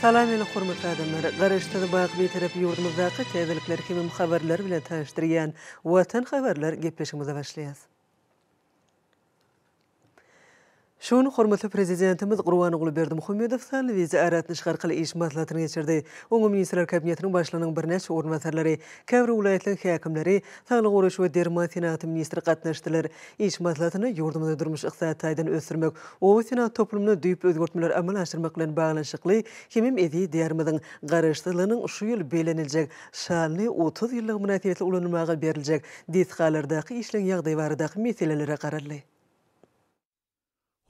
Salam meni hormatly adamlar! Garaşsyz baky Bitarap ýurdumyzdaky täzelikler hemem habarlar bilen tanyşdyrýan Watan habarlar gepleşigimize başlaýas. Şu gün hormatly Prezidentimiz Gurbanguly Berdimuhamedow sanly wideo aratnaşyk arkaly iş maslahatyny geçirdi. Oňa Ministrler Kabinetiniň Başlygynyň birnäçe orunbasarlary, käbir welaýatlaryň häkimleri, Saglygy goraýyş we derman senagaty ministri gatnaşdylar. Iş maslahatyna ýurdumyzy durmuş-ykdysady taýdan ösdürmek, oba senagat toplumynda düýp özgertmeleri amala aşyrmak bilen baglanyşykly hemem eziz Diýarymyzyň Garaşsyzlygynyň şu ýyl belleniljek şanly otuz ýyllygy mynasybetli ulanylmaga beriljek desgalardaky işleň ýagdaýy baradaky meselelere garaldy.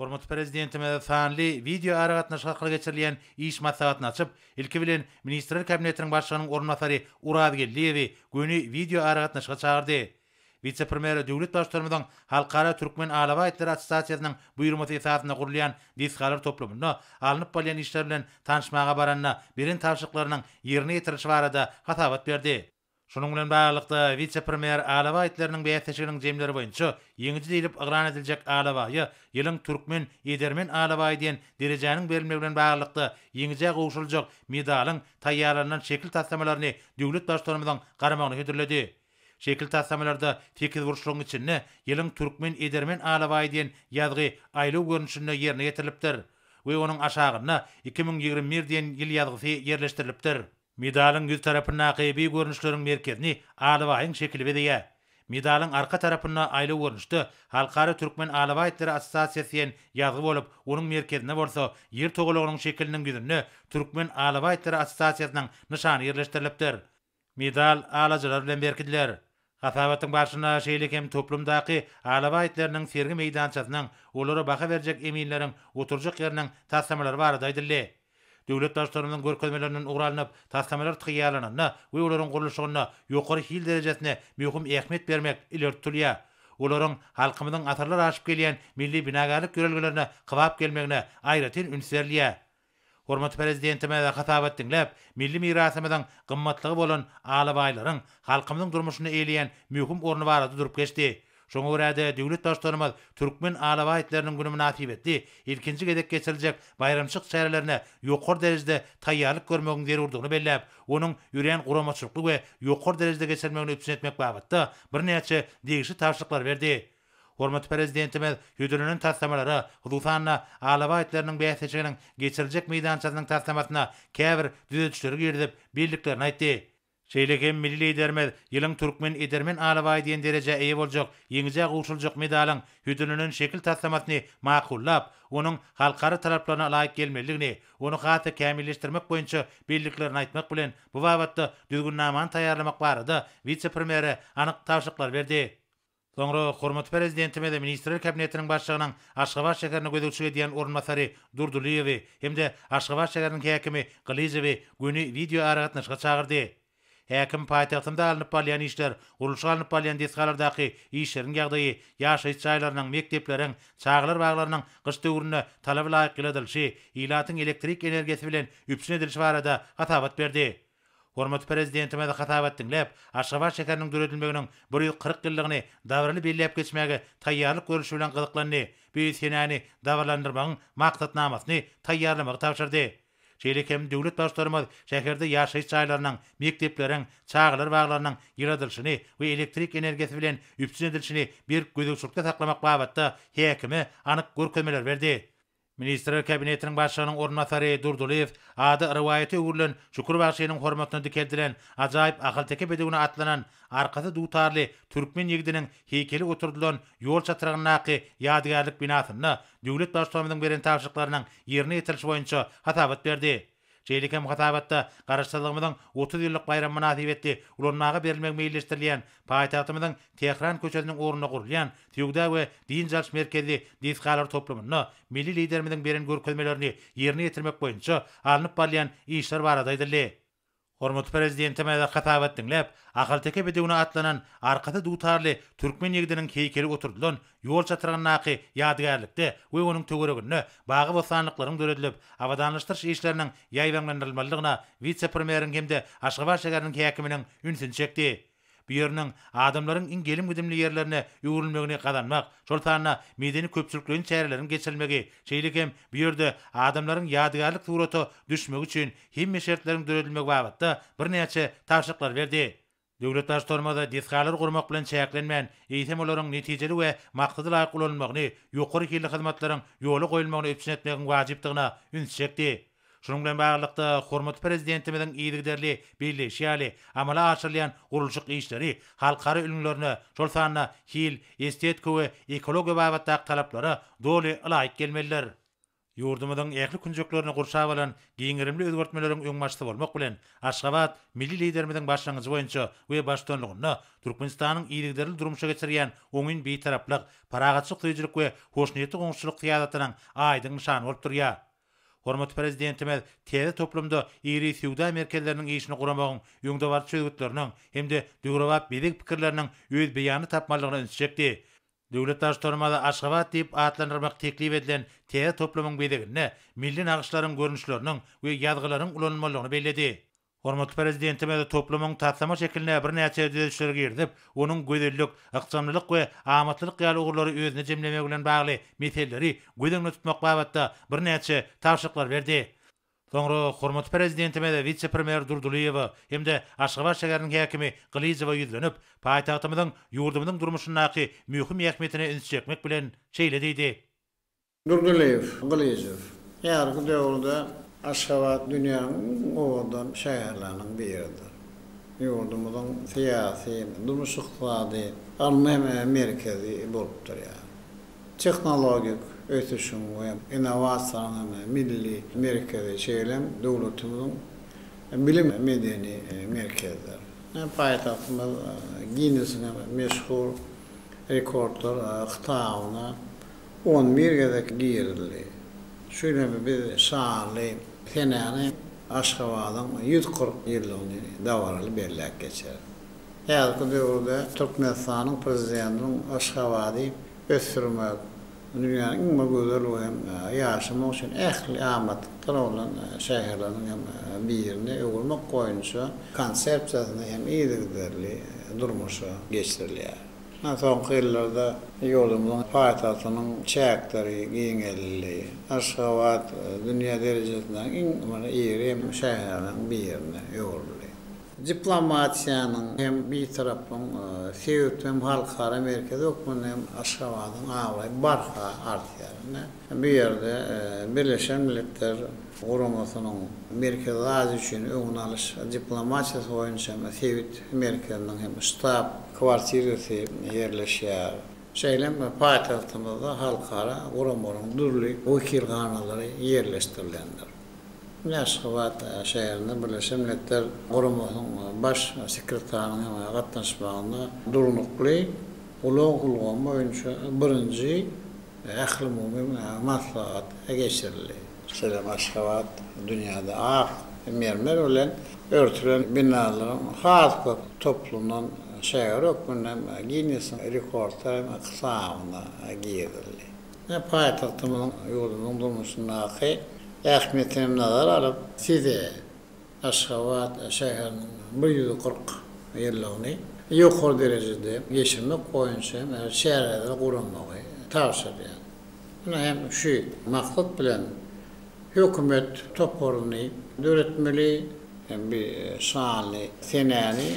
Hormatly Prezidentimiz sanly wideoaragatnaşyk arkaly geçirilýän iş maslahatyny açyp, ilki bilen, Ministrler Kabinetiniň Başlygynyň orunbasary Oraz Geldiýewi göni wideoaragatnaşyga çagyrdy. Wise-premýer döwlet Baştutanymyzyň Halkara türkmen alabaýtlary assosiasiýasynyň buýurmasy esasynda gurulýan desgalar toplumynda alnyp barylýan işler bilen tanyşmaga baranda beren tabşyryklarynyň ýerine ýetirilişi barada hasabat berdi. Şunuň bilen baglylykda, wise-premýer Alaba itleriniň bäsleşiginiň jemleri boýunça ýeňiji diýlip yglan ediljek alabaýa Ýylyň türkmen edermen alabaýy diýen derejäniň berilmegi bilen baglylykda ýeňijä gowşuryljak medalyň taýýarlanylan şekil taslamalaryny döwlet Baştutanymyzyň garamagyna hödürledi. Şekil taslamalarda sekizburçlugyň içinde Ýylyň türkmen edermen alabaýy diýen ýazgy aýlaw görnüşinde ýerine ýetirilipdir we onuň aşagynda iki müň ýigrimi bir diýen ýyl ýazgysy ýerleşdirilipdir. Medalyň ýüz tarapyndaky bi görnüşleriň merkezini alabaýyň şekili bezeýär. Medalyň arka tarapynda aýlaw görnüşde Halkara Türkmen alabaýtlary assosiasiýasy diýen ýazgy bolup, onuň merkezinde bolsa Ýer togalagynyň şekiliniň ýüzünde Türkmen alabaýtlary assosiasiýasynyň nyşany ýerleşdirilipdir. Medal alajylar bilen berkidiler. Hasabatyň barşynda şeýle hem toplumdaky alabaý itleriniň sergi meýdançasynyň, olara baha berjek eminleriň oturjak ýeriniň taslamalary barada aýdyldy. Döwlet Baştutanymyzyň görkezmelerinden ugur alnyp, taslamalar taýýarlananda we olaryň gurluşygynda ýokary hil derejesine möhüm ähmiýet bermek ileri tutulýar. Olaryň halkymyzyň asyrlar aşyp gelýän milli binagärlik ýörelgelerine kybap gelmegine aýratyn üns berilýär. Hormatly Prezidentimize hasabat diňläp, milli mirasymyzyň gymmatlygy bolan alabaýlaryň halkymyzyň durmuşynda eýleýän möhüm orny barada durup geçdi. Şoňa görä-de, döwlet Baştutanymyz Türkmen alabaý itleriniň güni mynasybetli ilkinji gezek geçiriljek baýramçylyk çärelerine ýokary derejede taýýarlyk görmegiň zerurdygyny belläp, onuň örän guramaçylykly we ýokary derejede geçirilmegini üpjün etmek babatda birnäçe degişli tabşyryklary berdi. Hormatly Prezidentimiz hödürlenen taslamalara, hususan-da, alabaý itleriniň bäsleşiginiň geçiriljek meýdançasynyň taslamasyna käbir düzedişleri girizip bildiklerini aýtdy. Şeýle hem milli Liderimiz Ýylyň türkmen edermen alabaýy diýen derejä eýe boljak ýeňijä gowşuryljak medalyň hödürlenen şekil taslamasyny makullap, onuň halkara talaplaryna laýyk gelmelidigini, ony has-da kämilleşdirmek boýunça bildiklerini aýtmak bilen, bu babatda düzgünnamany taýýarlamak barada wise-premýere anyk tabşyryklar berdi. Soňra hormatly Prezidentimiz Ministrler Kabinetiniň Başlygynyň Aşgabat şäherine gözegçilik edýän orunbasary Durdylyýewi hem-de Aşgabat şäheriniň häkimi Gylyjowy göni wideoaragatnaşyga çagyrdy. Häkim paýtagtymda alnyp barylýan işler, gurluşyk alnyp barylýan desgalardaky işleriň ýagdaýy, ýaşaýyş jaýlarynyň, mekdepleriň, çagalar baglarynyň gyş döwründe talaba laýyk ýyladylyşy, ilatyň elektrik energiýasy bilen üpjün edilişi barada hasabat berdi. Hormatly Prezidentimiz hasabat diňläp, Aşgabat şäheriniň döredilmeginiň bir ýüz kyrk ýyllygyny dabaraly belläp geçmäge taýýarlyk görlüşi bilen gyzyklandy, bu senäni dabaralandyrmagyň maksatnamasyny taýýarlamagy tabşyrdy. Şeýle hem döwlet Baştutanymyz şäherde ýaşaýyş jaýlarynyň, mekdepleriň, çagalar baglarynyň ýyladylyşyny we elektrik energiýasy bilen üpjün edilişini berk gözegçilikde saklamak babatda häkime anyk görkezmeler berdi. Ministrler Kabinetiniň Başlygynyň orunbasary Durdylyýew ady rowaýata öwrülen Şükür bagşynyň hormatyna dikeldilen ajaýyp ahalteke bedewine atlanan arkasy dutarly türkmen ýigidiniň heýkeli oturdylan ýol çatrygyndaky ýadygärlik binasynda döwlet Baştutanymyzyň beren tabşyryklarynyň ýerine ýetirilişi boýunça hasabat berdi. Şeýle hem hasabatda Garaşsyzlygymyzyň otuz ýyllyk baýramy mynasybetli ulanmaga berilmegi meýilleşdirilýän paýtagtymyzyň Tähran köçesiniň ugrunda gurulýan Söwda we dynç alyş merkezli desgalar toplumynda milli Liderimiziň beren görkezmelerini ýerine ýetirmek boýunça alnyp barylýan işler barada aýdyldy. Hormatly Prezidentimize hasabat diňläp, ahalteke bedewine atlanan arkasy dutarly türkmen ýigdiniň heýkeli oturdylan ýol çatrygyndaky ýadygärlikde we onuň töwereginde bagy-bossanlyklaryň döredilip, abadanlaşdyryş işleriniň ýaýbaňlandyrylmalydygyna wise-premýeriň hem-de Aşgabat şäheriniň häkiminiň ünsüni çekdi. Bu ýeriniň adamlaryň iň gelim-gidimli ýerlerine öwrülmegini gazanmak, şol sanda medeni-köpçülikleýin çäreleriň geçirilmegi, şeýle hem bu ýerde adamlaryň ýadygärlik surata düşmegi üçin hemme şertleriň döredilmegi babatda birnäçe tabşyryklary berdi. Döwlet Baştutanymyz desgalar gurmak bilen çäklenmän, eýsem olaryň netijeli we maksada laýyk ulanylmagyny, ýokary hilli hyzmatlaryň ýola goýulmagyny üpjün etmegiň wajypdygyna ünsi çekdi. Şunuň bilen baglylykda, hormatly Prezidentimiziň yzygiderli belleýşi ýaly, amala aşyrylýan gurluşyk işleri halkara ülňülerine, şol sanda hil, estetika we ekologiýa babatdaky talaplara doly ylaýyk gelmelidir. Ýurdumyzyň ähli künjeklerini gurşap alan giň gerimli özgertmeleriň öňbaşçysy bolmak bilen, Aşgabat Milli Liderimiziň başlangyjy boýunça we baştutanlygynda Türkmenistanyň yzygiderli durmuşa geçirýän oňyn Bitaraplyk, parahatçylyk söýüjilik we hoşniýetli goňşuçylyk syýasatynyň aýdyň nyşany bolup durýar. Hormatly Prezidentimiz täze toplumda iri söwda merkezleriniň işini guramagyň öňdebaryjy çözgütleriniň hem-de döwrebap bezeg pikirleriniň öz beýanyny tapmalydygyna üns çekdi. Döwlet Baştutanymyz Aşgabat diýip atlandyrmak teklip edilen täze toplumyň bezeginde milli nagyşlaryň görnüşleriniň we ýazgylaryň ulanylmalydygyny belledi. Hormatly Prezidentimiz toplumyň taslama şekiline birnäçe düzedişleri girizip, onuň gözellik, ykjamlylyk we amatlylyk ýaly ugurlary özüne jemlemegi bilen bagly meseleleri göz öňünde tutmak babatda birnäçe tabşyryklary berdi. Soňra hormatly Prezidentimiz wise-premýer Durdylyýewa hem-de Aşgabat şäheriniň häkimi Gylyjowa ýüzlenip, paýtagtymyzyň ýurdumyzyň durmuşyndaky möhüm ähmiýetine üns çekmek bilen, şeýle diýdi. Durdylyýew, Gylyjow. Häzirki döwürde Aşgabat dünýäniň iň owadan şäherleriniň biridir. Ýurdumyzyň syýasy, durmuş-ykdysady, ylmy hem merkezi bolup durýar. Tehnologik ösüşiň we innowasiýalaryň milli merkezi şeýle-m döwletimiziň bilim, medeni merkezidir. Paýtagtymyz Ginnesiň meşhur rekordlar kitabyna On bir gezek girildi. Şu ýyl hem biz şanly senäni Aşgabadyň ýüz kyrk ýyllygyny dabaraly belläp geçeris. Häzirki döwürde Türkmenistanyň Prezidentiniň Aşgabady ösdürmek, dünýäniň iň bir gözel we hem ýaşamak üçin ähli amatlyklar bolan şäherleriniň hem birine öwürmek boýunça konsepsiýasyny hem yzygiderli durmuşa geçirilýär. Mundan soňky ýyllarda ýurdumyzyň paýtagtynyň çäkleri giňeldildi. Aşgabat dünýä derejesindäki iň bir iri hem şäherleriň birine öwrüldi. Diplomatiýanyň hem bitaraplygyň sebit hem halkara merkezi hökmünde hem Aşgabadyň abraýy barha artýar. Ine, bu ýerde Birleşen Milletler Guramasynyň Merkezi Aziýa üçin öňüni alyş diplomatiýasy boýunça sebit merkeziniň hem ştab kwartirasy ýerleşýär. Şeýle hem paýtagtymyzda halkara guramalaryň dürli wekilhanalary ýerleşdirilendir. Ine, Aşgabat şäherinde Birleşen Milletler Guramasynyň Baş sekretarynyň hem gatnaşmagynda Durnukly ulag ulgamy boýunça birinji ählumumy maslahat geçirildi. Şeýle-de Aşgabat dünýäde ak mermer bilen örtülen binalaryň has köp toplumynyň şägeri hökmünde hem Ginnesiň rekordlar kitabyna girizildi. Ine, paýtagtymyzyň ýurdumyzyň durmuşyndaky ähmiýetini hem nazara alyp, size Aşgabat şäheriniň bir ýüz kyrk ýyllygyny ýokary derejede geçirmek boýunça hem çäreleri guramagy tabşyrýar. Ine hem şu maksat bilen hökümet toparyny döretmeli, bu şanly senäni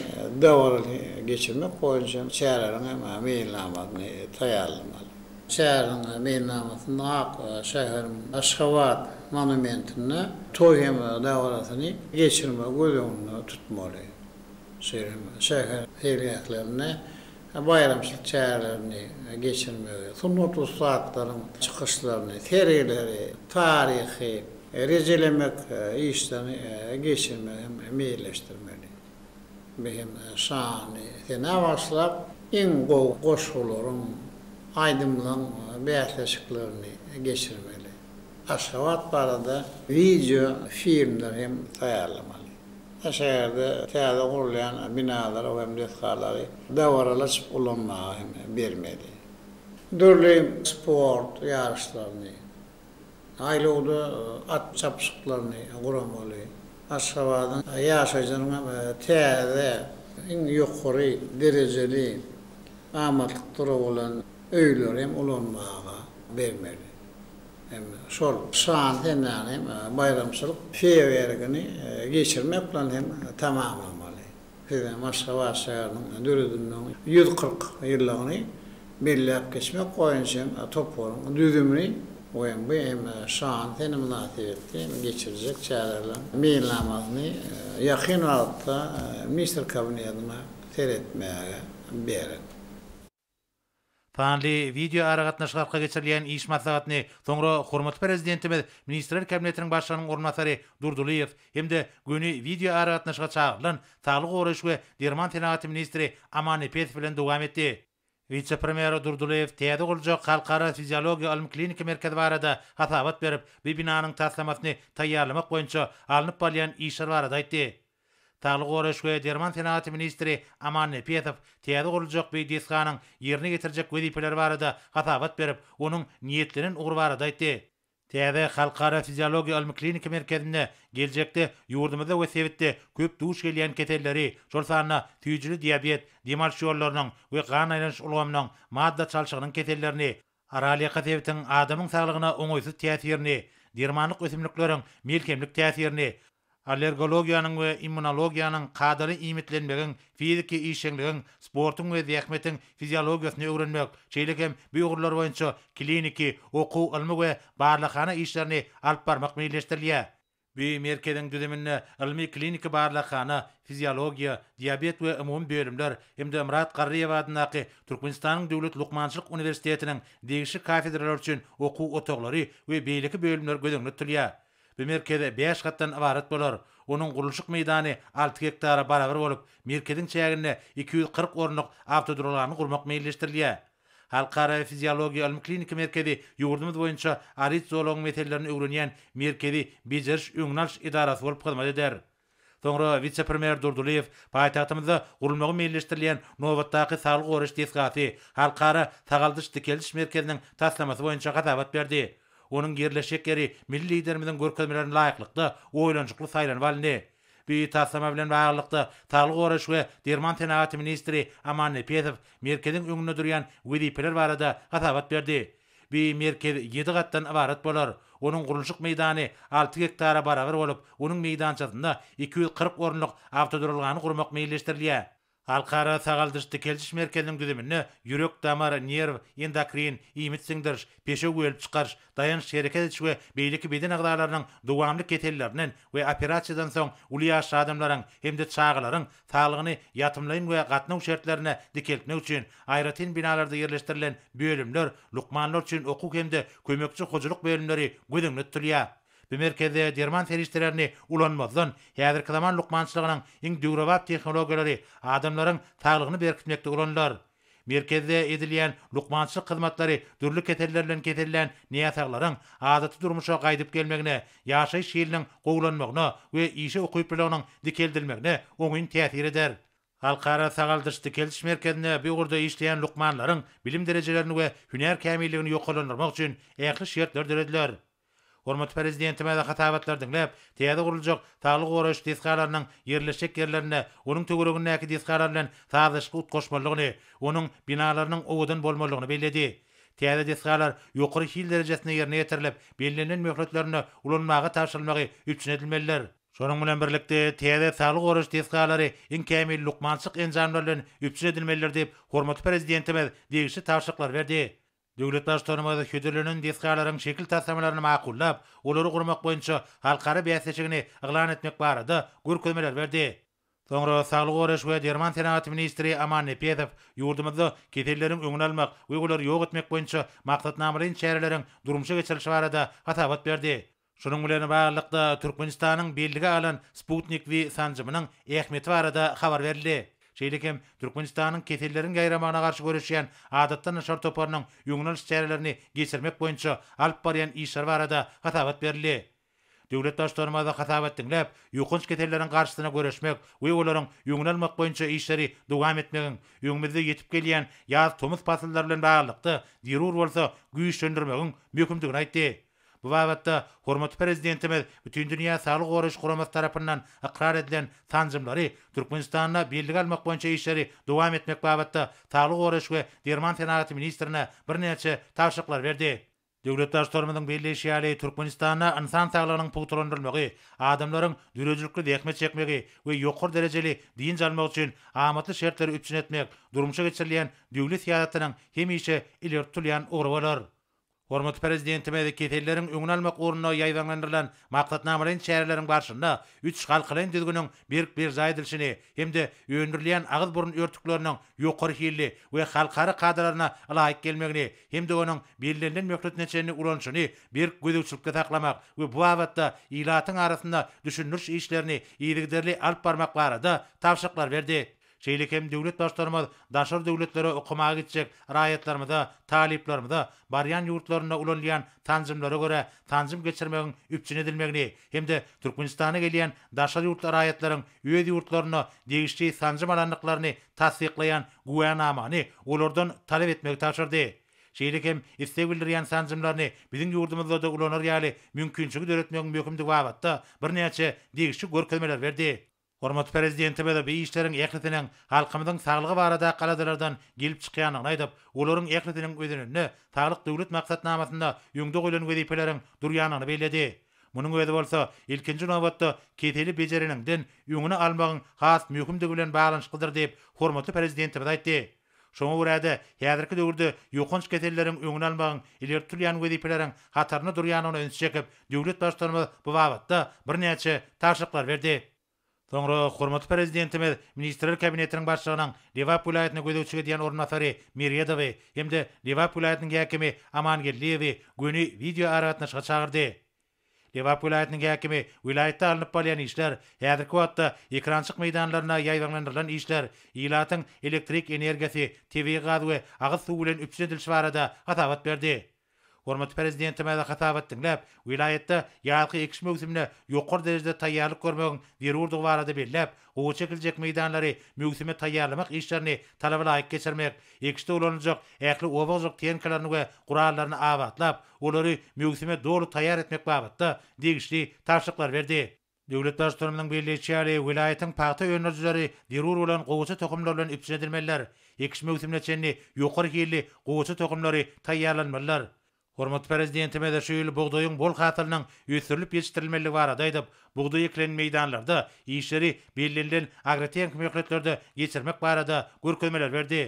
dabaraly geçirmek boýunça çäreleriň hem meýilnamasyny taýýarlamaly. Şäheriň meýilnamasynda Ak şäheriň Aşgabat monumentinde toý hem dabarasyny geçirmegi göz öňünde tutmaly. Şeýle hem şäher seýilgählerinde baýramçylyk çärelerini geçirmegi, sungat ussatlaryň çykyşlaryny, sergileri, taryhy rejelemek işlerini geçirmegi hem meýilleşdirmeli. Mehmet şany senä bagyşlap iň gowy goşgularyň, aýdymlaň bäsleşiklerini geçirmeli. Aşgabat barada wideo filmler hem taýýarlamaly. Şa şäherde täze gurulýan binalary hem desgalary dabaralaçyp ulanmaga hem bermeli. Dürli sport ýaryşlaryny, Saýlawda at çapyşyklaryny guramaly. Aşgabadyň ýaşaýjylaryň hem täze, iň ýokary derejeli amatlyklara bolan öýleri hem ulanmaga bermeli. Hem şol şan senäni hem baýramçylyk feýerwerkini geçirmek bilen hem tamamlamaly. Biz Maşgabat şäheriniň döredilmeginiň ýüz kyrk ýyllygyny belläp geçmek boýunça toparyň düzümini we bu hem şan sene mynasybetli geçirjek çäreleriniň meýilnamasyny ýakyn wagtda Ministr Kabinetine seretmäge berdik. Sanly wideoaragatnaşyk arka geçirilýän iş maslahatyny soňra hormatly Prezidentimiz Ministrler Kabinetiniň Başlygynyň orunbasary Durdylyýew hem-de göni wideoaragatnaşyga çagyrylan saglygy goraýyş we derman senagaty ministri Amannepesow bilen dowam etdi. Wise-premýer Durdylyýew täze guruljak Halkara fiziologiýa ylmy-kliniki merkezi barada hasabat berip, bu binanyň taslamasyny taýýarlamak boýunça alnyp barylýan işler barada aýtdy. Saglygy goraýyş we derman senagaty ministri Aman Nepesow täze guruljak beýik desganyň ýerine ýetirjek wezipeleri barada hasabat berip, onuň niýetlenen ugry barada aýtdy. Täze Halkara fiziologiýa ylmy-kliniki merkezinde geljekde ýurdumyzda we sebitde köp duş gelýän keselleri, şol sanda süýjüli diabet, dem alyş ýollarynyň we gan aýlanyş ulgamynyň, madda çalşygynyň kesellerini, Aralýaka sebitiň adamyň saglygyna oňaýsyz täsirini, dermanlyk ösümlikleriň melhemlik täsirini, allergologiýanyň we immunologiýanyň, kadaly iýmitlenmegiň, fiziki işjeňligiň, sportuň we zähmetiň fiziologiýasyny öwrenmek, şeýle hem bu ugurlar boýunça kliniki, okuw-ylmy we barlaghana işlerini alyp barmak meýilleşdirilýär. Bu merkeziň düzüminde ylmy-kliniki barlaghana, fiziologiýa, diabet we umumy bölümler hem-de Myrat Garryýew adyndaky Türkmenistanyň Döwlet lukmançylyk uniwersitetiniň degişli kafedralary üçin okuw otaglary we beýleki bölümler göz öňünde tutulýar. Bu merkez bäş gatdan ybarat bolar. Onuň gurluşyk meýdany alty gektara barabar bolup, merkeziň çäginde iki ýüz kyrk orunlyk awtoduralgany gurmak meýilleşdirilýär. Halkara fiziologiýa ylmy-kliniki merkezi ýurdumyz boýunça arit zolagyň meselelerini öwrenýän merkezi bejeriş-öňüni alyş edarasy bolup hyzmat eder. Soňra wise-premýer Durdylyýew paýtagtymyzda gurulmagy meýilleşdirilýän nobatdaky saglygy goraýyş desgasy, Halkara sagaldyş-dikeldiş merkeziniň taslamasy boýunça hasabat berdi. Onuň ýerleşjek ýeri milli Liderimiziň görkezmelerine laýyklykda oýlanyşykly saýlanyp alyndy. Bu taslama bilen baglylykda, Saglygy goraýyş we derman senagaty ministri Aman Nepesow Merkeziň öňünde durýan wezipeler barada hasabat berdi. Bu Merkez ýedi gatdan ybarat bolar. Onuň gurluşyk meýdany alty gektara barabar bolup, onuň meýdançasynda iki ýüz kyrk orunlyk awtoduralgany gurmak meýilleşdirilýär. Halkara sagaldyş-dikeldiş merkeziniň düzüminde ýürek-damar, nerw, endokrin, iýmit siňdiriş, peşew bölüp çykaryş, daýanç-hereket ediş we beýleki beden agzalarynyň dowamly kesellerinden we operasiýadan soň uly ýaşly adamlaryň hem-de çagalaryň saglygyny ýatymlaýyn we gatnaw şertlerinde dikeltmek üçin aýratyn binalarda ýerleşdirilen bölümler, lukmanlar üçin okuw hem-de kömekçi hojalyk bölümleri göz öňünde tutulýar. Bu merkezde derman serişdelerini ulanmazdan, häzirki zaman lukmançylygynyň iň döwrebap tehnologiýalary adamlaryň saglygyny berkitmekde ulanylar. Merkezde edilýän lukmançylyk hyzmatlary dürli keseller bilen kesellän näsaglaryň adaty durmuşa gaýdyp gelmegine, ýaşaýyş hiliniň gowulanmagyna we işe ukyplylygynyň dikeldilmegine oňyn täsir eder. Halkara sagaldyş-dikeldiş merkezinde bu ugurda işleýän lukmanlaryň bilim derejelerini we hünär kämilligini ýokarlandyrmak üçin ähli şertler dörediler. Hormatly Prezidentimiz hasabatlary diňläp, täze guruljak saglygy goraýyş desgalarynyň ýerleşjek ýerlerinde onuň töweregindäki desgalar bilen sazlaşykly utgaşmalydygyny, onuň binalarynyň owadan bolmalydygyny belledi. Täze desgalar ýokary hil derejesinde ýerine ýetirilip, bellenilen möhletlerinde ulanmaga tabşyrylmagy üpjün edilmelidir. Şonuň bilen birlikde, täze saglygy goraýyş desgalary iň kämil lukmançylyk enjamlary bilen üpjün edilmelidir diýip, hormatly Prezidentimiz degişli tabşyryklary berdi. Döwlet Baştutanymyz hödürlenen desgalaryň şekil taslamalaryny makullap, olary gurmak boýunça halkara bäsleşigini yglan etmek barada görkezmeler berdi. Soňra saglygy goraýyş we derman senagaty ministri Aman Nepesow ýurdumyzda keselleriň öňüni almak we olary ýok etmek boýunça maksatnamalaýyn çäreleriň durmuşa geçirilişi barada hasabat berdi. Şunuň bilen baglylykda, Türkmenistanyň bellige alan Sputnik V sanjymynyň ähmiýeti barada habar berildi. Şeýle hem, Türkmenistanyň Keselleriň ýaýramagyna garşy göreşýän adatdan daşary toparynyň öňüni alyş çärelerini geçirmek boýunça alyp barýan işleri barada hasabat berildi. Döwlet Baştutanymyz hasabat diňläp, ýokanç keselleriň garşysyna göreşmek we olaryň öňüni almak boýunça işleri dowam etmegiň, öňümizde ýetip gelýän ýaz-tomus pasyllary bilen baglylykda zerur bolsa güýçlendirmegiň möhümdigini aýtdy. Bu babatda hormatly Prezidentimiz Bütindünýä saglygy goraýyş guramasy tarapyndan ykrar edilen sanjymlary Türkmenistanda bellige almak boýunça işleri dowam etmek babatda Saglygy goraýyş we derman senagaty ministrine birnäçe tabşyryklar berdi. Döwlet Baştutanymyzyň belleýşi ýaly, Türkmenistanda ynsan saglygynyň pugtalandyrylmagy, adamlaryň döredijilikli zähmet çekmegi we ýokary derejeli dynç almagy üçin amatly şertleri üpjün etmek durmuşa geçirilýän döwlet syýasatynyň hemişe ileri tutulýan ugry bolar. Hormatly Prezidentimiz keselleriň öňüni almak ugrunda ýaýbaňlandyrylan maksatnamalaýyn çäreleriň barşynda üç halkalaýyn düzgüniň berk berjaý edilişini hem-de öndürilýän agyz-burun örtükleriniň ýokary hilli we halkara kadalaryna ylaýyk gelmegini hem-de onuň bellenilen möhletine çenli ulanyşyny berk gözegçilikde saklamak we bu babatda ilatyň arasynda düşündiriş işlerini yzygiderli alyp barmak barada tabşyryklar berdi. Şeýle hem döwlet Baştutanymyz daşary döwletlere okamaga gitjek raýatlarymyza, talyplarymyza barýan ýurtlarynda ulanylýan sanjymlara görä sanjym geçirmegiň üpjün edilmegini hem-de Türkmenistana gelýän daşary ýurtly raýatlaryň öz ýurtlarynda degişli sanjym alandyklaryny tassyklaýan güwänamany olardan talap etmegi tabşyrdy. Şeýle hem isleg bildirýän sanjymlaryny biziň ýurdumyzda-da ulanar ýaly mümkinçiligi döretmegiň möhümdigi babatda birnäçe degişli görkezmeler berdi. Hormatly Prezidentimiz bu işleriň ählisiniň halkymyzyň saglygy baradaky aladalardan gelip çykýandygyny aýdyp, olaryň ählisiniň özeninde Saglyk Döwlet maksatnamasynda öňde goýlan wezipeleriň durýandygyny belledi. Munuň özi bolsa, ilkinji nobatda, keseli bejereniňden öňüni almagyň has möhümdigi bilen baglanyşyklydyr diýip, hormatly Prezidentimiz aýtdy. Şoňa görä-de, häzirki döwürde ýokanç keselleriň öňüni almagyň ileri tutulýan wezipeleriň hatarynda durýandygyna üns çekip, döwlet Baştutanymyz bu babatda birnäçe tabşyryklar berdi. Soňra hormatly Prezidentimiz Ministrler Kabinetiniň Başlygynyň Lebap welaýatyna gözegçilik edýän orunbasary Meredowy hem-de Lebap welaýatynyň häkimi Amangeldiýewi göni wideoaragatnaşyga çagyrdy. Lebap welaýatynyň häkimi, Welaýatda alnyp barylýan işler, häzirki wagtda ekrançyk meýdanlaryna ýaýbaňlandyrylan işler, ilatyň elektrik energiýasy, tebigy gaz we agyz suwy bilen üpjün edilişi barada hasabat berdi. Hormatly Prezidentimize hasabat diňläp, welaýatda ýazky ekiş möwsümine ýokary derejede taýýarlyk görmegiň zerurdygy barada belläp, Gowy çekiljek meýdanlary möwsüme taýýarlamak işlerini talaba laýyk geçirmek, ekişde ulanyljak ähli oba hojalyk tehnikalaryny we gurallaryny abatlap, olary möwsüme doly taýýar etmek babatda degişli tabşyryklary berdi. Döwlet Baştutanymyzyň belleýşi ýaly, welaýatyň pagta öndürijileri zerur bolan gowaça tohumlar bilen üpjün edilmeliler, ekiş möwsümine çenli ýokary hilli gowaça tohumlary taýýarlanmalylar. Hormatly Prezidentimiz şu ýyl bugdaýyň bol hasylynyň ösdürilip ýetişdirilmelidigi barada aýdyp, bugdaý ekilen meýdanlarda işleri bellenilen agrotehniki möhletlerde geçirmek barada görkezmeler berdi.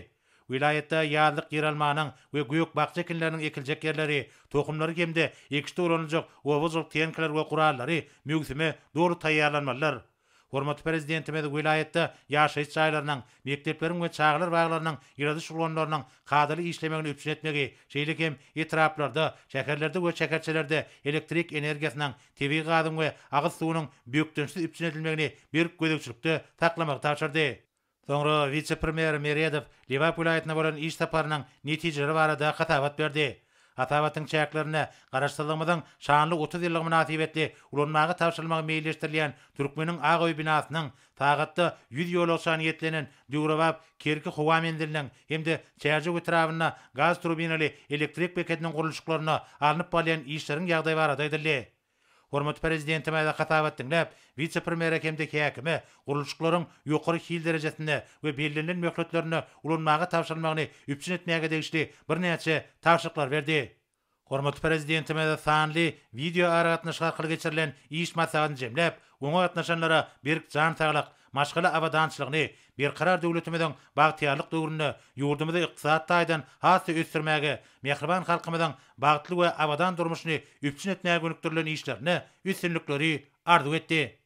Welaýatda ýazlyk ýeralmanyň we gök-bakja ekinleriniň ekiljek ýerleri, tohumlary hem-de ekişde ulanyljak oba hojalyk tehnikalar we gurallary möwsüme doly taýýarlanmalydyr. Hormatly Prezidentimiz welaýatda ýaşaýyş jaýlarynyň, mekdepleriň we çagalar baglarynyň ýyladyş ulgamlarynyň kadaly işlemegini üpjün etmegi, şeýle hem etraplarda, şäherlerde we şäherçelerde elektrik energiýasynyň, tebigy gazyň we agyz suwunyň bökdençsiz üpjün edilmegini berk gözegçilikde saklamagy tabşyrdy. Soňra wise-premýer Meredow Lebap welaýatyna bolan iş saparynyň netijeleri barada hasabat berdi. Hasabatyň çäklerinde Garaşsyzlygymyzyň şanly otuz ýyllygy mynasybetli ulanmaga tabşyrylmagy meýilleşdirilýän Türkmeniň ak öýi binasynyň, sagatda ýüz ýolagçany ýetlenen döwrebap Kerki howa menziliniň hem-de Çärjew etrabynda gaz turbinaly elektrik bekediniň gurluşyklaryna alnyp barylýan işleriň ýagdaýy barada aýdyldy. Hormatly Prezidentimize hasabat diňläp, wise-premýere hem-de häkime gurluşyklaryň ýokary hil derejesinde we bellenilen möhletlerinde ulanmaga tabşyrylmagyny üpjün etmäge degişli birnäçe tabşyryklar berdi. Hormatly Prezidentimize sanly wideoaragatnaşyk arkaly geçirilen iş maslahatyny jemläp, oňa gatnaşanlara berk jan saglyk, Maşgala abadançylygyny Berkarar döwletimiziň bagtyýarlyk döwründe ýurdumyzy ykdysady taýdan has-da ösdürmäge, mähriban halkymyzyň bagtly we abadan durmuşyny üpjün etmäge gönükdirilen işlerinde üstünlikleri arzuw etdi.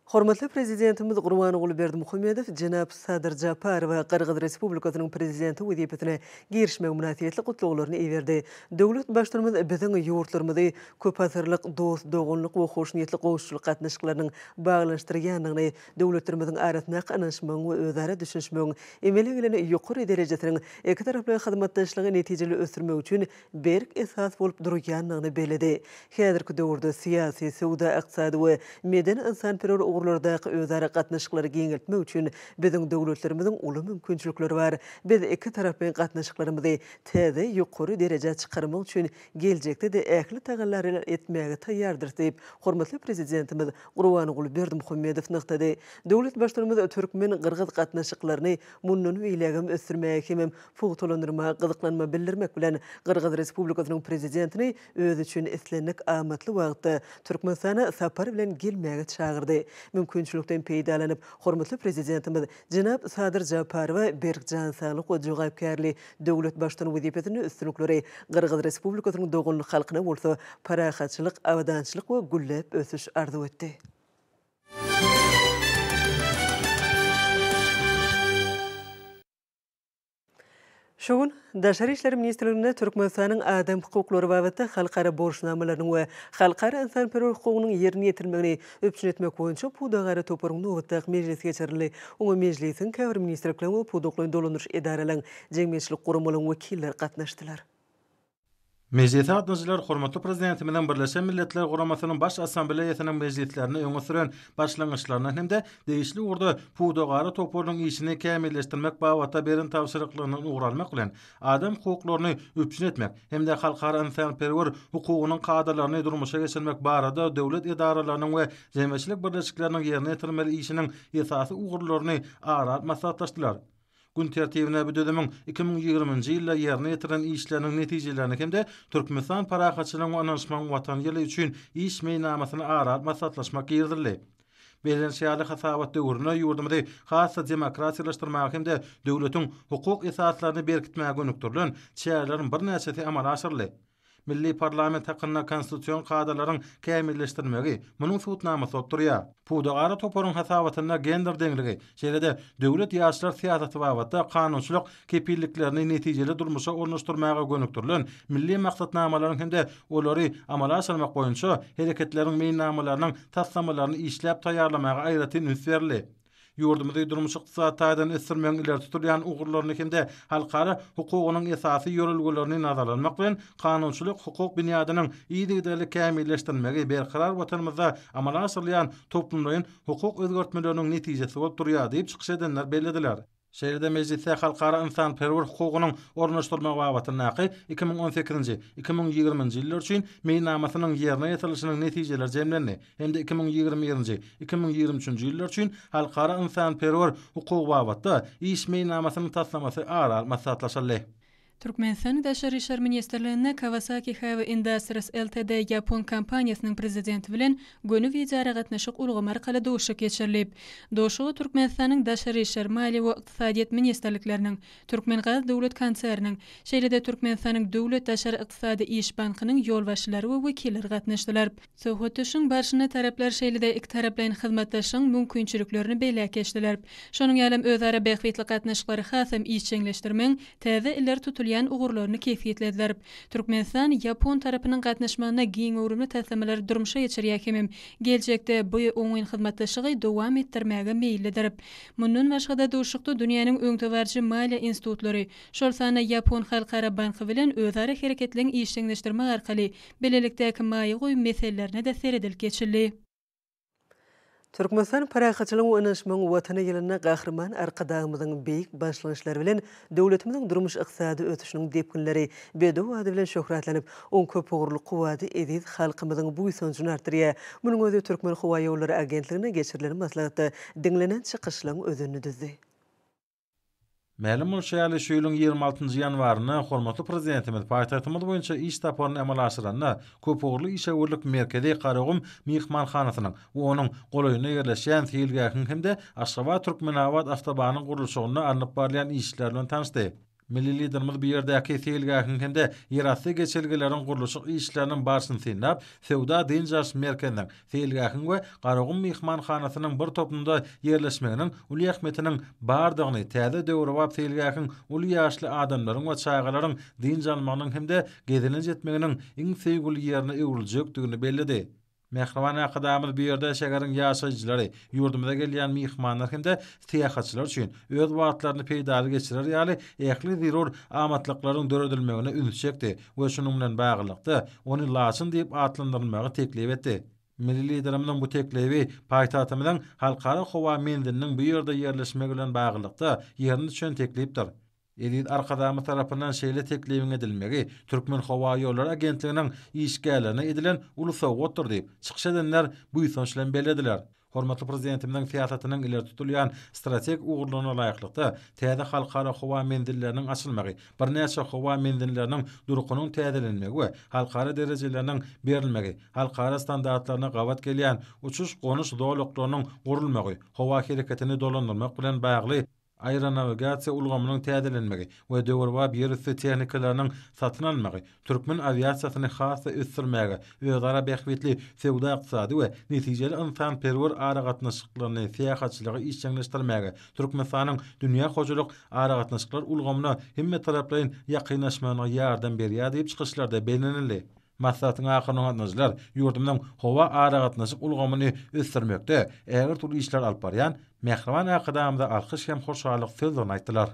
Hormatly Prezidentimiz Gurbanguly Berdimuhamedow jenap Sadyr Japarowa Gyrgyz Respublikasynyň Prezidenti wezipesine girişmegi mynasybetli gutlaglaryny iberdi. Döwlet Baştutumyz biziň ýurtlarymyzy köpasyrlyk dost-doganlyk we hoşniýetli goňşuçylyk gatnaşyklarynyň baglanyşdyrýandygyny, döwletlerimiziň arasyndaky ynanyşmagyň we özara düşünişmegiň emele gelen ýokary derejesiniň ikitaraplaýyn hyzmatdaşlygy netijeli ösdürmek üçin berk esas bolup durýandygyny belledi. Häzirki döwürde syýasy, söwda-ykdysady we medeni-ynsanperwer ugurlardaky özara gatnaşyklary giňeltmek üçin biziň döwletlerimiziň uly mümkinçilikleri bar. Biz ikitaraplaýyn gatnaşyklarymyzy täze ýokary derejä çykarmak üçin geljekde-de ähli tagallalary etmäge taýýardyrys diýip, hormatly Prezidentimiz Gurbanguly Berdimuhamedow nygtady. Döwlet Baştutanymyz türkmen-gyrgyz gatnaşyklaryny mundan beýlägem ösdürmäge hemem pugtalandyrmaga gyzyklanma bildirmek bilen, Gyrgyz Respublikasynyň Prezidentini özi üçin islendik amatly wagtda Türkmenistana sapar bilen gelmäge çagyrdy. Mümkinçilikden peýdalanyp, hormatly Prezidentimiz, Jenap Sadyr Japarowa berk jan saglyk we jogapkärli döwlet baştutany wezipesinde üstünlikleri, Gyrgyz Respublikasynyň doganlyk halkyna bolsa parahatçylyk, abadançylyk we gülläp ösüş arzuw etdi. Şu gün Daşary işler ministrliginde Türkmenistanyň adam hukuklary babatda halkara borçnamalarynyň we halkara ynsanperwer hukugynyň ýerine ýetirilmegini üpjün etmek boýunça pudagara toparyň nobatdaky mejlisi geçirildi. Oňa mejlisiň, käbir ministrlikleriň we pudaklaýyn dolandyryş edaralaryň, jemgyýetçilik guramalaryň wekilleri gatnaşdylar. Mejlise gatnaşyjylar hormatly Prezidentimiziň Birleşen Milletler Guramasynyň Baş Assambleýasynyň mejlislerinde öňe süren başlangyçlaryna hem-de degişli ugurda pudagara toparynyň işini kämilleşdirmek babatda beren tabşyryklaryna ugur almak bilen, adam hukuklaryny üpjün etmek hem-de halkara ynsanperwer hukugynyň kadalaryny durmuşa geçirmek barada döwlet edaralarynyň we jemgyýetçilik birleşikleriniň ýerine ýetirmeli işiniň esasy ugurlaryny ara alyp maslahatlaşdylar. Gün tertibine bu düzümiň iki müň ýigriminji ýylda ýerine ýetirilen işleriniň netijelerini hem-de Türkmenistan Parahatçylygyň we ynanyşmagyň Watany ýyly üçin iş meýilnamasyny ara alyp maslahatlaşmak girizildi. Bellenişi ýaly, hasabat döwründe ýurdumyzy has-da demokratiýalaşdyrmaga hem-de döwletiň hukuk esaslaryny berkitmäge gönükdirilen çäreleriň birnäçesi amala aşyryldy. Milli parlament hakynda konstitusion kadalaryň kämilleşdirilmegi, munuň subutnamasy bolup durýar. Pudagara toparyň hasabatynda gender deňligi, şeýle-de döwlet ýaşlar syýasaty babatda kanunçylyk kepilliklerini netijeli durmuşa ornaşdyrmaga gönükdirilen milli maksatnamalaryň hem-de olary amala aşyrmak boýunça hereketleriň meýilnamalarynyň taslamalaryny işläp taýýarlamaga aýratyn üns berildi. Ýurdumyzy durmuş-ykdysady taýdan ösdürmegiň ileri tutulýan ugurlaryny hem-de halkara hukugynyň esasy ýörelgelerini nazara almak bilen, kanunçylyk-hukuk binýadynyň yzygiderli kämilleşdirilmegi berkarar Watanymyzda amala aşyrylýan toplumlaýyn hukuk özgertmeleriniň netijesi bolup durýar diýip, çykyş edenler bellediler. Şeýle-de mejlisde halkara ynsanperwer hukugynyň ornaşdyrylmagy babatyndaky iki müň on sekizinji, iki müň ýigriminji ýyllar üçin Meýilnamasynyň ýerine ýetirilişiniň netijeleri jemlendi hem-de iki müň ýigrimi birinji, iki müň ýigrimi üçünji ýyllar üçin halkara ynsanperwer hukugy babatda iş meýilnamasynyň taslamasy ara alyp maslahatlaşyldy. Türkmenistanyň Daşary işler ministrliginde Kawasaki Heavy Industries Ltd. ýapon kompaniýasynyň prezidenti bilen göni wideoaragatnaşyk ulgamy arkaly duşuşyk geçirilip, duşuşyga Türkmenistanyň Daşary işler, Maliýe we Ykdysadyýet ministrlikleriniň, Türkmengaz döwlet konserniniň, şeýle-de Türkmenistanyň Döwlet daşary ykdysady iş bankynyň ýolbaşçylary we wekilleri gatnaşdylar. Söhbetdeşligiň barşynda taraplar şeýle-de ikitaraplaýyn hyzmatdaşlygyň mümkinçiliklerini belläp geçdiler. Şonuň ýaly hem özara bähbitli gatnaşyklary hasam işjeňleşdirmegiň täze ileri tutulýan ugurlaryny kesgitlediler. Türkmenistan ýapon tarapynyň gatnaşmagynda giň göwrümli taslamalary durmuşa geçirýär hemem geljekde bu oňyn hyzmatdaşlygy dowam etdirmäge meýillidir. Mundan başga-da, duşuşykda dünýäniň öňdebaryjy maliýe institutlary, şol sanda Ýapon halkara banky bilen özara hereketleň işjeňleşdirmek arkaly Bilelikdäki maýa goýum meselelerine-de seredilip geçildi. Türkmenistan parahatçylygyň we ynanyşmagyň Watany ýylynda Gahryman Arkadagymyzyň beýik başlangyçlary bilen döwletimiziň durmuş-ykdysady ösüşiniň depginleri bedew ady bilen şöhratlanyp, oň köpugurly kuwwady eziz halkymyzyň buýsanjyny artdyrýar. Munuň özi Türkmenhowaýollary agentliginde geçirilen maslahatda diňlenen çykyşlaryň özenini düzdi. Mälim bolşy ýaly, şu ýylyň ýigrimi altynjy ýanwarynda hormatly Prezidentimiz paýtagtymyz boýunça iş saparyny amala aşyranda, köpugurly işewürlik merkezi Garagum myhmanhanasynyň we onuň golaýynda ýerleşýän seýilgähiň hem-de Aşgabat-Türkmenabat awtobanyň gurluşygynda alnyp barylýan işler bilen tanyşdy. Milli Liderimiz bu ýerdäki seýilgähiň hem-de ýerasty geçelgeleriň gurluşyk işleriniň barşyny synlap, söwda-dynç alyş merkeziniň Seýilgähiň we Garagum myhmanhanasynyň bir topumda ýerleşmeginiň uly ähmiýetiniň bardygyny, täze döwrebap seýilgähiň uly ýaşly adamlaryň we çagalaryň dynç almagynyň hem-de gezelenç etmeginiň iň söýgüli ýerine öwrüljekdigini belledi. Mähriban Arkadagymyz bu ýerde şäheriň ýaşaýjylary, ýurdumyza gelýän myhmanlar hem-de syýahatçylar üçin öz wagtlaryny peýdaly geçirer ýaly ähli zerur amatlyklaryň döredilmegine üns çekdi we şunuň bilen baglylykda, ony Laçyn diýip atlandyrylmagy teklip etdi. Milli Liderimiziň bu teklibi paýtagtymyzyň Halkara howa menziliniň bu ýerde ýerleşmegi bilen baglylykda ýerine düşen teklipdir. Eziz Arkadagymyz tarapyndan şeýle teklibiň edilmegi Türkmenhowaýollary agentliginiň işgärlerine edilen uly sowgatdyr diýip, çykyş edenler buýsanç bilen bellediler. Hormatly Prezidentimiziň syýasatynyň ileri tutulýan strategik ugurlaryna laýyklykda, täze halkara howa menzilleriniň açylmagy, birnäçe howa menzinleriniň durkunyň täzelenmegi we halkara derejeleriniň berilmegi, halkara standartlaryna gabat gelýän uçuş-gonuş zolaklarynyň gurulmagy howa hereketini dolandyrmak bilen bagly Aeronawigasiýa ulgamynyň täzelenmegi we döwrebap ýerüsti tehnikalarynyň satyn almagy türkmen awiasiýasyny has-da ösdürmäge, özara bähbitli söwda-ykdysady we netijeli ynsanperwer aragatnaşyklaryny, syýahatçylygy işjeňleşdirmäge, Türkmenistanyň dünýä hojalyk aragatnaşyklar ulgamyna hemmetaraplaýyn ýakynlaşmagyna ýardam berýär diýip, çykyşlarda bellenildi. Maslahatyň ahyrynda gatnaşyjylar ýurdumyzyň howa aragatnaşyk ulgamyny ösdürmekde ägirt uly işler alyp barýan Mähriban Arkadagymyza alkyş hem hoşallyk sözlerini aýtdylar.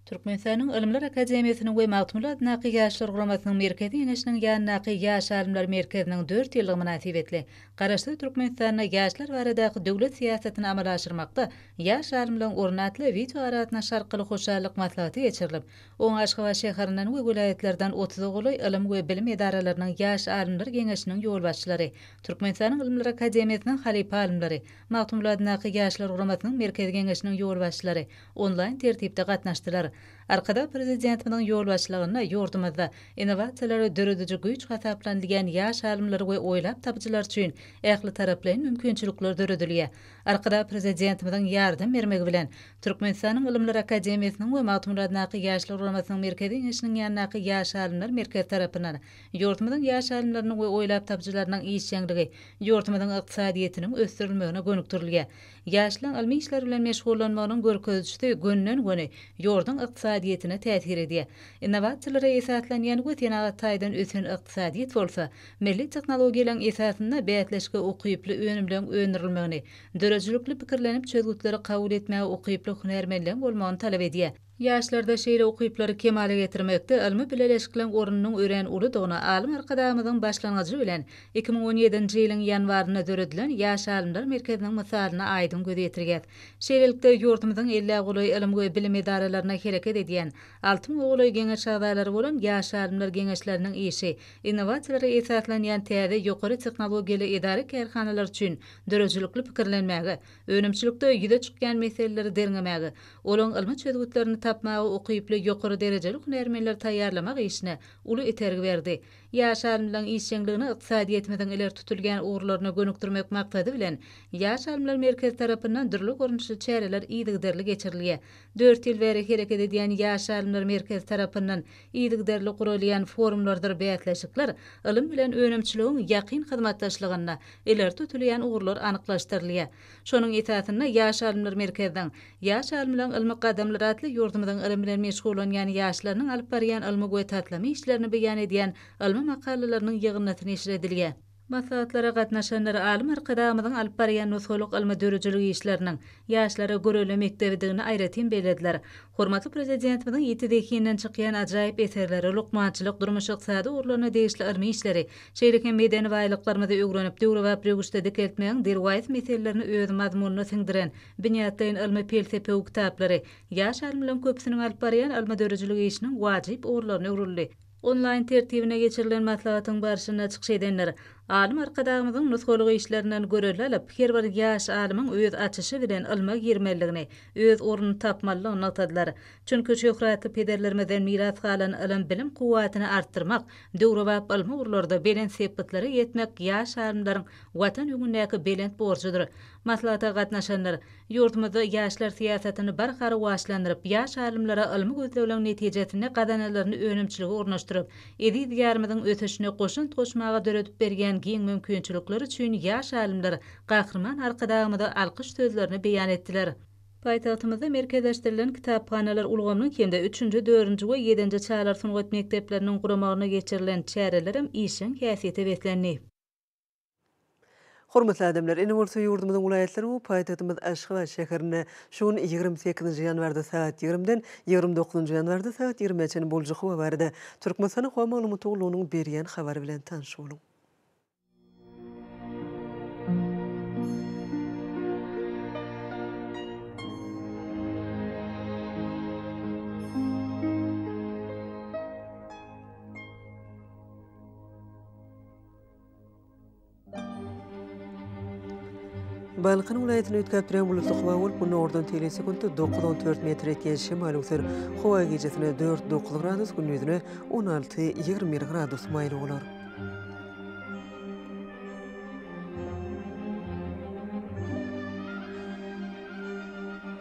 Türkmenistanyň Ylymlar akademiýasynyň we Magtymguly adyndaky Ýaşlar guramasynyň Merkezi Geňeşiniň ýanyndaky Ýaş alymlar merkeziniň dört ýyllygy mynasybetli Garaşsyz Türkmenistanda ýaşlar baradaky döwlet syýasatyny amala aşyrmakda ýaş alymlaryň orny atly wideoaragatnaşyk arkaly hoşallyk maslahaty geçirilip, Oňa Aşgabat şäherinden we welaýatlardan otuza golaý ylym we bilim edaralarynyň Ýaş alymlar geňeşiniň ýolbaşçylary, Türkmenistanyň Ylymlar akademiýasynyň halypa alymlary, Magtymguladynyňky Ýaşlar guramasynyň Merkezi geňeşiniň ýolbaşçylary onlaýn tertipde gatnaşdylar. Arkadag Prezidentimiziň ýolbaşçylygynda ýurdumyzda innowasiýalary dörediji güýç hasaplanylýan ýaş alymlar we oýlap tapyjylar üçin ählitaraplaýyn mümkinçilikler döredilýär. Arkadag Prezidentimiziň ýardam bermegi bilen, Türkmenistanyň Ylymlar akademiýasynyň we Magtymguladyndaky Ýaşlar guramasynyň Merkezi Geňeşiniň ýanyndaky Ýaş alymlar merkezi tarapyndan ýurdumyzyň ýaş alymlarynyň we oýlap tapyjylarynyň işjeňligi ýurdumyzyň ykdysadyýetiniň ösdürilmegine gönükdirilýär. Ýaşlaryň ylmy işler bilen meşgullanmagynyň görkezijisi gönden-göni ýurduň ykdysadyýetine täsir edýär. Innowasiýalara esaslanýan we senagat taýdan ösen ykdysadyýet bolsa, milli tehnologiýalaryň esasynda bäsleşige ukyply önümleriň öndürilmegini Döredijilikli pikirlenip, çözgütleri kabul etmäge ukyply hünärmenligiň bolmagyny talap edýär. Ýaşlarda şeýle ukyplary kemala getirmekde ylmy bileleşikleň ornunyň örän uludygyny alym Arkadagymyzyň başlangyjy bilen iki müň on ýedinji ýylyň ýanwarynda döredilen Ýaş alymlar merkeziniň mysalynda aýdyň göz ýetirýär. Şeýlelikde, ýurdumyzyň elli golaý ylym we bilim edaralarynda hereket edýän, alty müňe golaý geňeş agzalary bolan Ýaş alymlar geňeşleriniň işi innowasiýalara esaslanýan täze ýokary tehnologiýaly edara-kärhanalar üçin döredijilikli pikirlenmäge, önümçilikde ýüze çykýan meseleleri derňemäge, olaň ylmy çözgütlerini tapmaga ukyply ýokary derejeli hünärmenleri taýýarlamak işine uly itergi berdi. Ýaş alymlaryň işjeňligini ykdysadyýetimiziň ileri tutulýan ugurlaryna gönükdirmek maksady bilen, Ýaş alymlar merkezi tarapyndan dürli görnüşli çäreler yzygiderli geçirilýär. Dört ýyl bäri hereket edýän Ýaş alymlar merkezi tarapyndan Yzygiderli guralýan forumlardyr bäsleşikler, ylym bilen önümçiligiň ýakyn hyzmatdaşlygynda ileri tutulýan ugurlar anyklaşdyrylýar. Şonuň esasynda Ýaş alymlar merkeziniň Ýaş alymlaryň ylmy gadamlary atly ýurdumyzyň ylym bilen meşgullanýan ýaşlarynyň alyp barýan ylmy we taslama işlerini beýan edýän ylmy makalalarynyň ýygyndysyneşir edilýär. Maslahatlara gatnaşanlar alym Arkadagymyzyň alyp barýan nusgalyk ylmy-dörüjilik işleriniň ýaşlara görelde mekdebidigini aýratyn bellediler. Hormatly Prezidentimiziň ýiti zehinden çykýan ajaýyp eserleri, lukmançylyk, durmuş-ykdysady ugurlaryna degişli ylmy işleri, şeýle hem medeni baýlyklarymyzy öwrenip, döwrebap röwüşde dikeltmegiň derwaýys meselelerini öz mazmunyna siňdiren binýatlaýyn ylmy-pelsepewi kitaplary ýaş alymlaryň köpüsiniň alyp barýan ylmy-dörüjilik işiniň wajyp ugurlaryna öwrüldi. Onlaýn tertibine geçirilen maslahatyň barşynda çykyş edenler Alym Arkadagymyzyň nusgalyk işlerinden göreldä alyp, her bir ýaş alymyň öz açyşy bilen ylma girmelidigini, öz ornuny tapmalydygyny nygtadylar. Çünki şöhratly pederlerimizden miras galan ylym-bilim kuwwatyny artdyrmak, döwrebap ylmy ugurlarda belent sepgitlere ýetmek ýaş alymlaryň Watan öňündäki belent borjudyr. Maslahata gatnaşanlar ýurdumyzda ýaşlar syýasatyny barha rowaçlandyryp, ýaş alymlara ylmy gözlegleriň netijesinde gazananlaryny önümçilige ornaşdyryp, eziz Diýarymyzyň ösüşine goşant goşmaga döredip berýän giň mümkinçilikleri üçin ýaş alymlar Gahryman Arkadagymyza alkyş sözlerini beýan etdiler. Paýtagtymyzda merkezleşdirilen kitaphanalar ulgamynyň hem-de üçünji, dördünji we ýedinji çagalar sungat mekdepleriniň guramagyna geçirilen çärelerem işjeň häsiýete beslendi. Hormatly adamlar, indi bolsa ýurdumyzyň welaýatlary we paýtagtymyz Aşgabat şäherinde şu gün ýigrimi sekizinji ýanwarda sagat ýigrimiden ýigrimi dokuzynjy ýanwarda sagat ýirmä çenli boljak howa barada Türkmenistanyň Howa maglumat gullugynyň berýän habary bilen tanyş boluň. Balkan welaýatyny üýtgäp duran bulutly howa bolup, günordan teýle sekuntda dokuz, on dört metr ýetýän şemal öwser. Howa gijesine dört, dokuz gradus, gündizine on alty, ýigrimi bir gradus maýyl bolar.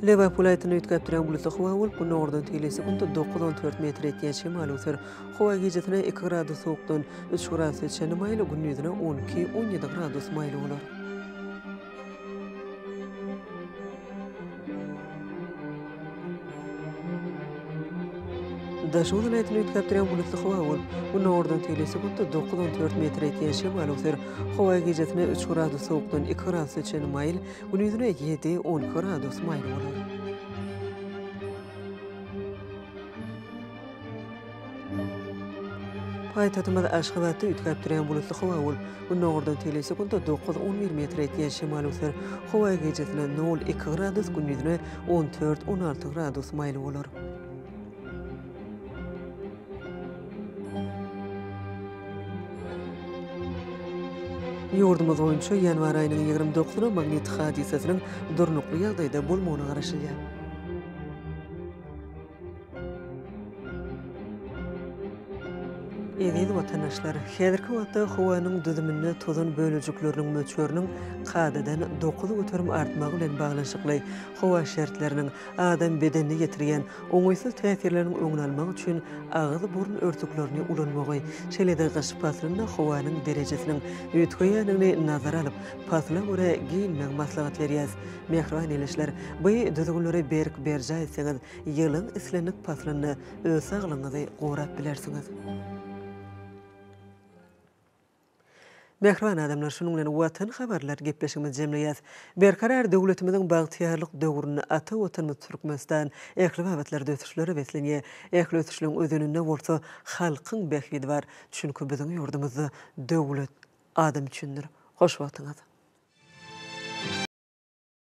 Lebap welaýatyny üýtgäp duran bulutly howa bolup, günordan teýle sekuntda dokuz on dört metr ýetýän şemal öwser. Howa gijesine iki gradus sowukdan üç gradusa çenli maýyl, gündizine on iki on ýedi gradus maýyl bolar. Daşoguz welaýatyny üýtgäpdirýän bulutly howa bolup, günordan tegelýän sekuntda dokuz on dört metr ýetýän şemal öwser. Howa gijesine üç gradus sowukdan iki gradusa çenli maýyl, gündizine ýedi, on iki gradus maýyl bolar. Paýtagtymyz Aşgabatda üýtgäp durýan bulutly howa bolup, gündogardan tegelýän sekuntda dokuz-on bir metr ýetýän şemal öser. Howa gijesine nol-iki gradus, gündiziňe on dört-on alty gradus maýyl bolar. Ýurdumyz boýunça ýanwar aýynyň ýigrimi dokuzyna magnit hadysasynyň durnukly ýagdaýda bolmagyna garaşylýar. Eziz watandaşlar, häzirki wagtda howanyň düzüminde tozan bölejikleriniň möçberiniň kadadan dokuz göterim artmagy bilen baglanyşykly howa şertleriniň adam bedenine ýetirýän oňaýsyz täsirleriniň öňüni almak üçin agyz-burun örtüklerini ulanmagy, şeýle-de gyş paslynda howanyň derejesiniň üýtgeýändigini nazara alyp, pasla görä geýinmegi maslahat berýäris. Mähriban ildeşler, bu düzgünleri berk berjaý etseňiz, ýylyň islendik paslynda öz saglygyňyzy gorap bilersiňiz. Mähriban adamlar, şunuň bilen Watan habarlar gepleşigimizi jemleýäs. Berkarar döwletimiziň bagtyýarlyk döwründe ata Watanymyz Türkmenistan ähli babatlarda ösüşlere beslenýär. Ähli ösüşleň özeninde bolsa halkyň bähbidi bar. Çünki biziň ýurdumyzda döwlet adam üçindir. Hoş wagtyňyz.